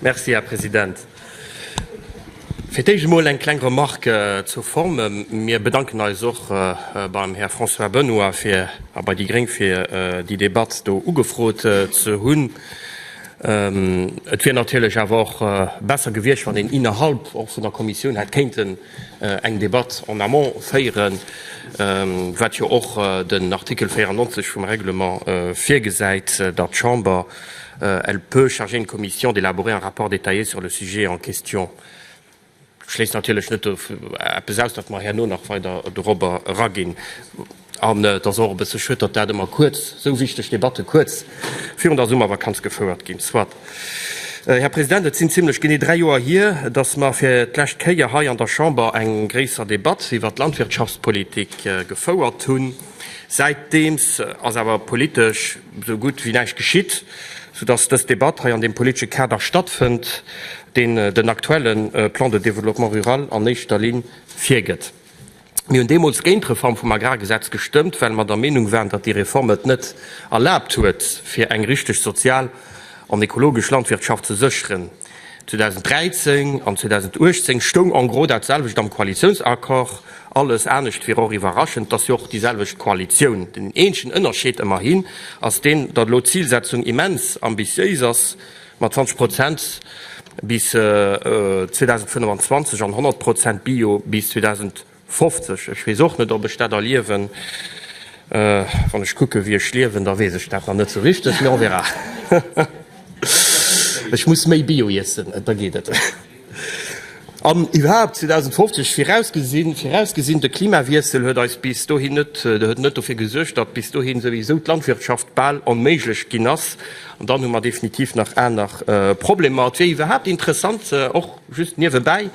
Merci, Här President. Fir d'éischt emol eng kleng Remarque zur Form. Mir bedanken eis och beim Här François Benoy fir a bei déi gréng fir déi Debatt do ugefrot ze hunn. Et wier natierlech awer och besser gewiescht, wann een innerhalb och vun der Kommissioun hätt kéinten eng Debatt en amont féieren, wat jo och den Artikel 94 vum Règlement virgesäit, datt d'Chamber, elle peut charger une commission d'élaborer un rapport détaillé sur le sujet en question. Dat schléisst natierlech net eppes aus, datt mer herno nach weider dorobber eraginn. An et ass och e bësse schued, datt dat ëmmer kuerz, esou wichteg Debatte kuerz virun der Summervakanz gefouert ginn. Soit. Här President, et sinn zimlech genee dräi Joer hier, datt mer fir d'lescht Kéier hei an der Chamber eng gréisser Debatt iwwert d'Landwirtschaftspolitik gefouert hunn. Säitdeems ass awer politesch esou gutt wéi näischt geschitt, soudatt dës Debatt hei an deem politesche Kader stattfënnt, deen den aktuelle Plan de développement rural an éischter Linn virgëtt. Mir hunn deemools géint d'Reform vum Agrargesetz gestëmmt, well mer der Meenung waren, datt déi Reform et net erlaabt huet, fir eng richteg sozial an ekologesch Landwirtschaft ze sécheren. 2013 an 2018 stoung en gros dat selwecht am Koalitiounsaccord. Alles anescht wier och iwwerraschend. Et ass jo och déi selwecht Koalitioun. Den eenzegen Ënnerscheed, ëmmerhin, ass deen, datt elo d'Zilsetzung immens ambitiéis ass, Mat 20 Prozent bis 2025 an 100 Prozent Bio bis 2050. Ech weess och net, ob ech dat erliewen. Wann ech kucken, wéi ech liewen, da weess ech dat nach net esou richteg, mee on verra. Ech muss méi Bio iessen, da geet et. An iwwerhaapt, 2050, virausgesinn, virausgesinn de Klimawiessel huet eis bis dohin net, huet net dofir gesuergt, datt bis dohin souwisou d'Landwirtschaft bal onméiglech ginn ass, an dann hu mer definitiv nach aner Problemer. Et wier iwwerhaapt interessant, och just niewebäi,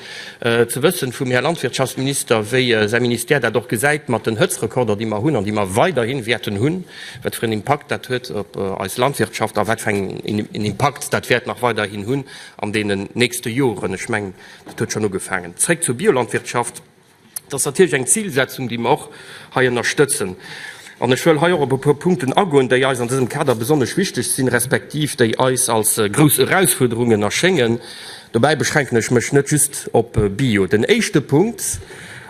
ze wëssen vum Här Landwirtschaftsminister, wéi säi Ministère dat och gesäit mat den Hëtztrekorder, déi mer hunn an déi mer weiderhi wäerten hunn, wat fir en Impakt dat huet op eis Landwirtschaft a wat fir en Impakt dat wäert nach weiderhin hunn an deenen nächste Joren, ech mengen, dat huet schonn ugefaangen. Zréck zur Biolandwirtschaft. Dat ass natierlech eng Zilsetzung, déi mer och hei ënnerstëtzen. An ech wëll hei och op e puer Punkten agoen, déi eis an dësem Kader besonnesch wichteg sinn, respektiv déi eis als grouss Erausfuerderungen erschéngen. Dobäi beschränken ech mech net just op Bio. Den éischte Punkt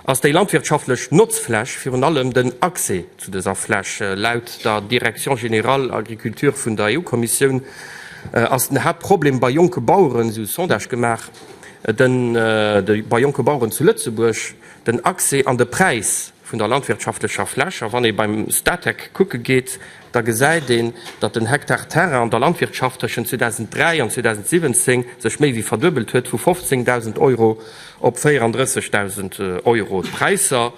ass déi landwirtschaftlech Notzfläch, virun allem den Accès. Zu dëser Fläch. Laut der Direction générale Agriculture vun der EU-Kommissioun ass den Haaptproblem bei jonke Baueren, esou Sondage gemaach bei jonke Baueren zu Lëtzebuerg, den Accès an de Präis vun der landwirtschaftlecher Fläch. A wann ee beim Statec kucke geet, da gesäit een, datt den Hektar Terrain an der Landwirtschaft tëschent 2003 an 2017 sech méi wéi verduebelt huet, vu 15.000 Euro op 34.000 Euro. D'Präisser.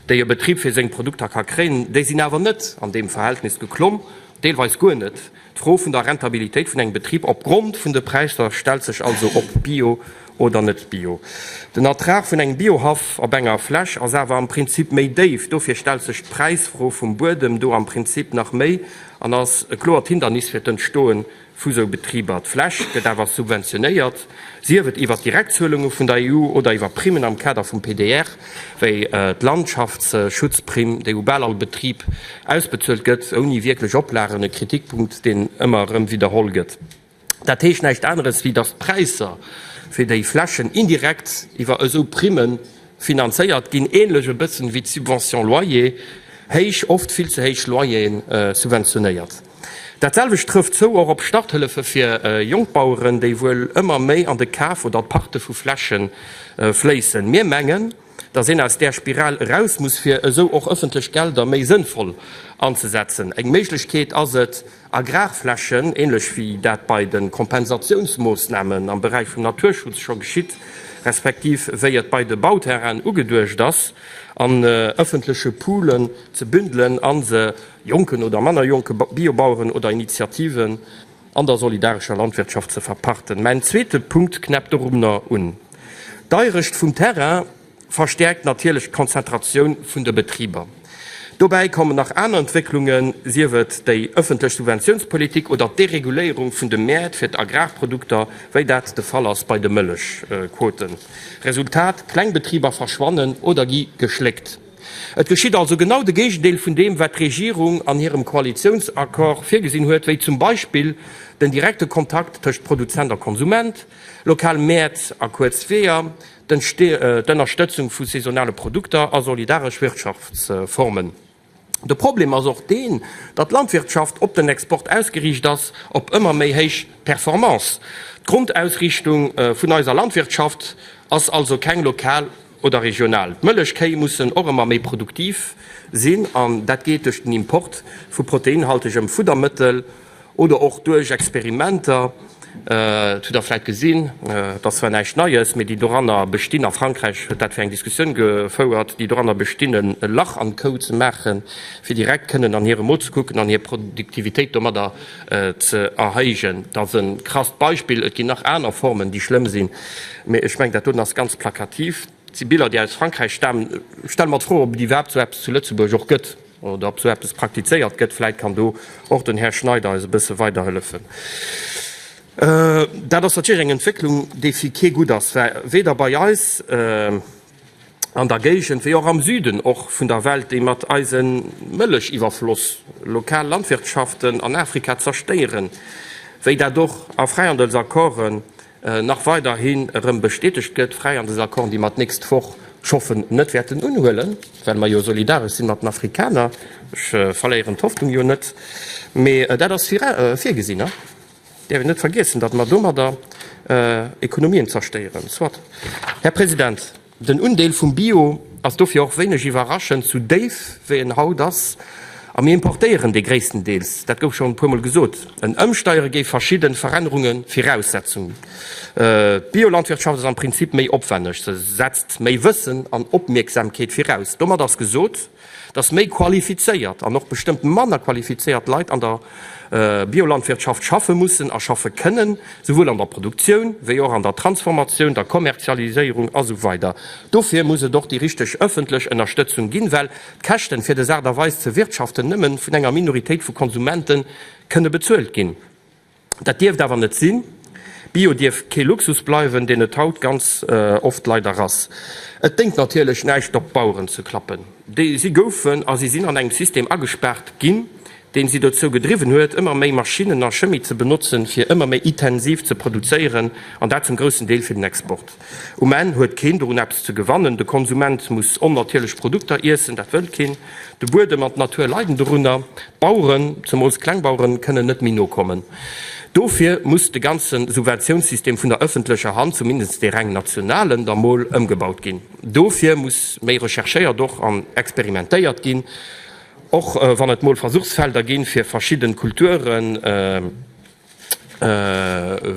déi e Betrib fir seng Produkter ka kréien, déi sinn awer net an deem Verhältnis geklomm, deelweis guer net. D'Fro vun der Rentabilitéit vun engem Betrib opgrond vun de Präisser stellt sech also, ob bio oder net bio. Den Ertrag vun engem Biohaff op enger Fläch ass awer am Prinzip méi déif. Dofir stellt sech d'Präisfro vum Buedem do am Prinzip nach méi an ass e kloert Hindernis fir d'Entstoe vu sou Betriber. D'Fläch gëtt awer subventionéiert, sief et iwwer Direktzuelunge vun der EU oder iwwer Primmen am Kader vum PDR, wéi d'Landschaftsschutzprimm, déi u bal all Betrib ausbezuelt gëtt, ouni wierklech Oplagen, e Kritikpunkt, deen ëmmer erëm widderholl gëtt. Dat heescht näischt aneres, wéi datt d'Präisser fir déi Flächen indirekt iwwer esou Primme finanzéiert ginn, änlech e bëssen, wéi d'Subvention loyer héich, oft vill ze héich Loyeren subventionéiert. Dat selwecht trëfft zou och op Starthëllefe fir Jongbaueren, déi wuel ëmmer méi an de Kaf oder d'Pachte vu Fläche fléissen. Mir mengen, datt een aus där Spiral eraus muss, fir esou och ëffentlech Gelder méi sënnvoll anzesetzen. Eng Méiglechkeet ass et, Agrarflächen, ähnlech wéi dat bei de Kompensatiounsmoossnamen am Beräich vum Naturschutz scho geschitt, respektiv wéi et bei de Bauterrainen ugeduecht ass, an ëffentleche Poolen ze bündelen a se, jonken oder manner jonke Biobaueren oder Initiativen an der solidarescher Landwirtschaft ze verparten. Mäin zweete Punkt knäppt dorunner un. D'Airëscht vum Terrain verstäerkt natierlech d'Konzentratioun vun de Betriber. Dobäi kommen nach aner Entwécklungen, sief et déi ëffentlech Subventiounspolitik oder d'Dereguléierung vun de Mäert fir d'Agrarprodukter, wéi dat de Fall ass bei de Mëllechquoten. Resultat, Klengbetriber verschwannen oder gi geschléckt. Et geschitt also genau de Géigendeel vun deem, wat d'Regierung an hirem Koalitiounsaccord virgesinn huet, wéi zum Beispill den direkte Kontakt tëscht Produzent a Konsument, lokal Mäert a kuerz Weeër, d'Ënnerstëtzung vu saisonale Produkter a solidaresch Wirtschaftsformen. De Problem ass och deen, datt d'Landwirtschaft op den Export ausgeriicht ass, op ëmmer méi héich Performance. D'Grondausriichtung vun eiser Landwirtschaft ass also keng lokal. oder regional. D'Mëllechkéi mussen och ëmmer méi produktiv sinn an dat geet duerch den Import vu proteinhaltegem Fuddermëttel oder och duerch Experimenter. Dat hutt Der vläit gesinn, et ass zwar näischt Neies, mee déi doranner bestinn, a Frankräich huet dat fir eng Diskussioun gefouert, déi doranner bestinn e Lach an d'Kou ze maachen, fir direkt kënnen an hire Mo ze kucken an hir Produktivitéit domadder ze erhéijen. Dat ass e krasst Beispill, et ginn nach aner Formen, déi schlëmm sinn. Mee ech mengen, dat doten ass ganz plakativ. Et si Biller, déi aus Frankräich stamen. Ech stelle mer d'Fro, ob et iwwerhaapt esou eppes zu Lëtzebuerg och gëtt oder ob esou eppes praktizéiert gëtt. Vläit kann do och den Här Schneider eis e bësse weiderhëllefen. Dat ass natierlech eng Entwécklung, déi fir kee gutt ass, weder bei eis, an der Géigend, wéi och am Süden och vun der Welt, déi mat eise Mëllechiwwerfloss lokal Landwirtschaften an Afrika zerstéieren, wéi dat och a Fräihandelsaccorden nach weiderhi erëm bestätegt gëtt, Fräihandelsaccorden, déi mer d'nächst Woch, ech hoffen, net wäerten unhuelen, well mer jo solidaresch sinn mat den Afrikaner, ech verléieren d'Hoffnung jo net, mee dat ass virgesinn. däerf een net vergiessen, datt mer domadder Ekonomien zerstéieren. Soit, Här President, den Undeel vum Bio ass dofir och wéineg iwwerraschend sou déif, wéi en haut ass, a mir importéieren dee gréisstendeels, dat gouf schonn e puermol gesot. En Ëmsteiere géif verschidde Verännerunge viraussetzen. D'Biolandwirtschaft ass am Prinzip méi opwänneg, se setzt méi Wëssen an Opmierksamkeet viraus. Domat ass gesot. dass méi qualifizéiert an och bestëmmt manner qualifizéiert Leit an der Biolandwirtschaft schaffe mussen a schaffe kënnen, souwuel an der Produktioun wéi och an der Transformatioun, der Kommerzialiséierung a sou weider Dofir muss et och déi richteg ëffentlech Ënnerstëtzung ginn, well d'Käschten, fir des Aart a Weis ze wirtschaften, nëmme vun enger Minoritéit vu Konsumenten kënne bezuelt ginn. Dat dierft awer net sinn. Bio dierf kee Luxus bleiwen, deen et haut ganz oft leider ass. Et déngt natierlech näischt op d'Baueren ze klappen. Si goufen a si sinn an engem System agespaart ginn, deen si dozou gedriwwen huet, ëmmer méi Maschinnen a Chemie ze benotzen, fir ëmmer méi itensiv ze produzéieren, an dat zum groussen Deel fir den Export. Um Enn huet keen dorun eppes ze gewannen, de Konsument muss onnatierlech Produkter iessen, dat wëll keen, de Buedem an d'Natur leiden dorunner, d'Baueren, zemools d'Klengbaueren, kënnen net méi nokommen. Dofir muss de ganze Subventiounssystem vun der ëffentlecher Hand, zumindest dee reng nationalen, da mol ëmgebaut ginn. Dofir muss méi recherchéiert och an experimentéiert ginn, och wann et mol Versuchsfelder ginn, fir verschidden Kulturen,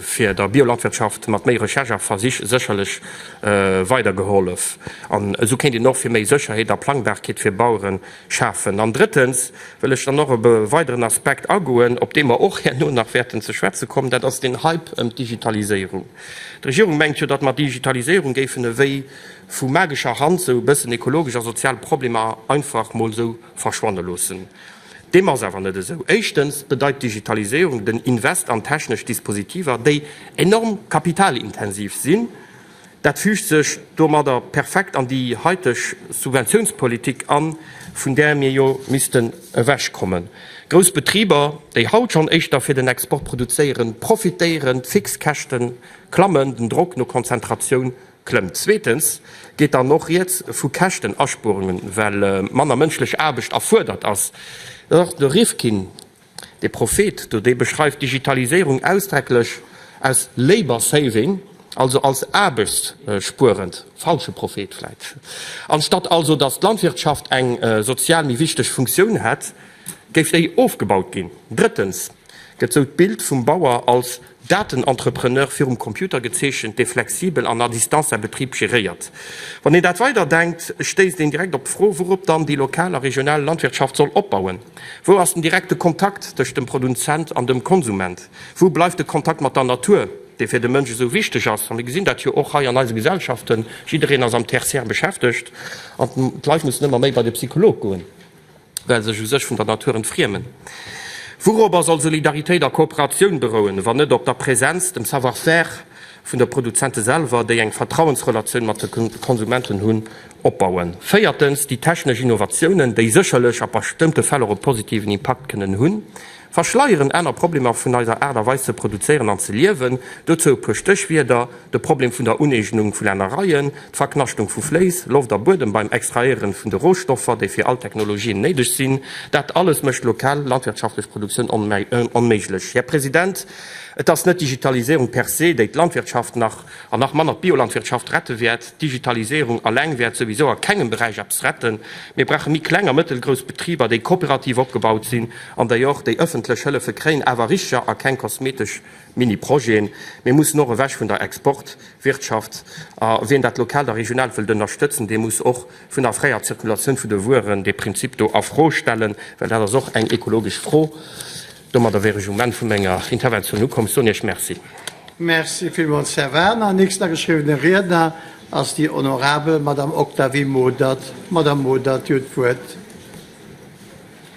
fir der Biolandwirtschaft mat méi Recherche a Versich sécherlech weidergehollef an esou kéint een och fir méi Sécherheet a Plangbarkeet fir Bauere schafen. An drëttens wëll ech dann och op e weideren Aspekt agoen, op dee mer och herno nach wäerten ze schwätze kommen, dat ass den Hype ëm d'Digitaliséierung. D'Regierung mengt jo, datt mer d'Digitaliséierung géifen ewéi vu magescher Hand sou e bëssen ekologesch a sozial Problemer einfach mol sou verschwanne loossen. Deem ass awer net esou. Éischtens bedeit d'Digitaliséierung den Invest an technesch Dispositiver, déi enorm kapitalintensiv sinn. Dat füügt sech domadder perfekt an déi haiteg Subventiounspolitik an, vun där mir jo missten ewechkommen. Grouss Betriber, déi haut schonn éischter fir den Export produzéieren, profitéieren, d'Fixkäschte klammen, den Drock no Konzentratioun Klëmmt. Zweetens geet dann och Rieds vu Käschtenaspuerungen, well manner mënschlech Aarbecht erfuerdert ass. Och de Rifkin, de Prophet do, dee beschreift d'Digitaliséierung ausdrecklech als labour saving, also als aarbechtsspuerend. Falsche Prophet vläit. Anstatt also, datt d'Landwirtschaft eng sozial méi wichteg Funktioun hätt, Géif déi ofgebaut ginn? Drëttens, Gëtt sou d'Bild vum Bauer als Datenentrepreneur virum Computer gezeechent, dee flexibel an à distance säi Betrib geréiert? Wann een dat weiderdenkt, stéisst een direkt op d'Fro, wourop dann déi lokal a regional Landwirtschaft soll opbauen. Wou ass den direkte Kontakt tëscht dem Produzent an dem Konsument? Wou bleift de Kontakt mat der Natur, dee fir de Mënsch esou wichteg ass? A mir gesinn dat jo och hei an eise Gesellschaften, jiddereen ass am Tertiär beschäftegt an d'Leit mussen ëmmer méi bei de Psycholog goen. well sech u sech vun der Natur entfriemen. Wourobber soll Solidaritéit a Kooperatioun berouen, wann net op der Präsenz, dem Savoir-faire vun de Produzente selwer, déi eng Vertrauensrelatioun mat de Konsumenten hunn, opbauen? Véiertens, déi technesch Innovatiounen, déi sécherlech a bestëmmte Fäll och e positiven Impakt kënnen hunn, Verschleieren aner Problemer vun eiser Aart a Weis ze produzéieren an ze liewen. Dozou e puer Stéchwierder, de Problem vun der Uneegnung vu Lännereien, d'Verknaschtung vu Fléiss, Loft a Buedem beim Extrahéieren vun de Rohstoffer, déi fir all Technologien néideg sinn. Dat alles mécht lokal landwirtschaftlech Produktioun onméiglech. Här President, et ass net d'Digitaliséierung per se, déi d'Landwirtschaft nach, an nach manner d'Biolandwirtschaft, rette wäert. D'Digitaliséierung alleng wäert souwisou a kengem Beräich eppes retten. Mir brauche méi kleng a mëttelgrouss Betriber, déi kooperativ opgebaut sinn, An déi och, déi ëffentlech Hëllefe kréien, awer richer a keng kosmetesch Mini-Projeten. Mir mussen och ewech vun der Export-Wirtschaft. A wien dat Lokaalt a Regionaalt wëllt ënnerstëtzen, dee muss och vun der fräier Zirkulatioun vun de Wueren dee Prinzip do a Fro stellen, well dat ass och eng ekologesch Fro. Domadder wär ech um Enn vu menger Interventioun ukomm. Ech soen Iech Merci. Merci villmools, Här Werner. Nächsten ageschriwwene Riedner ass déi honorabel Madame Octavie Modert. Madame Modert, Dir hutt d'Wuert.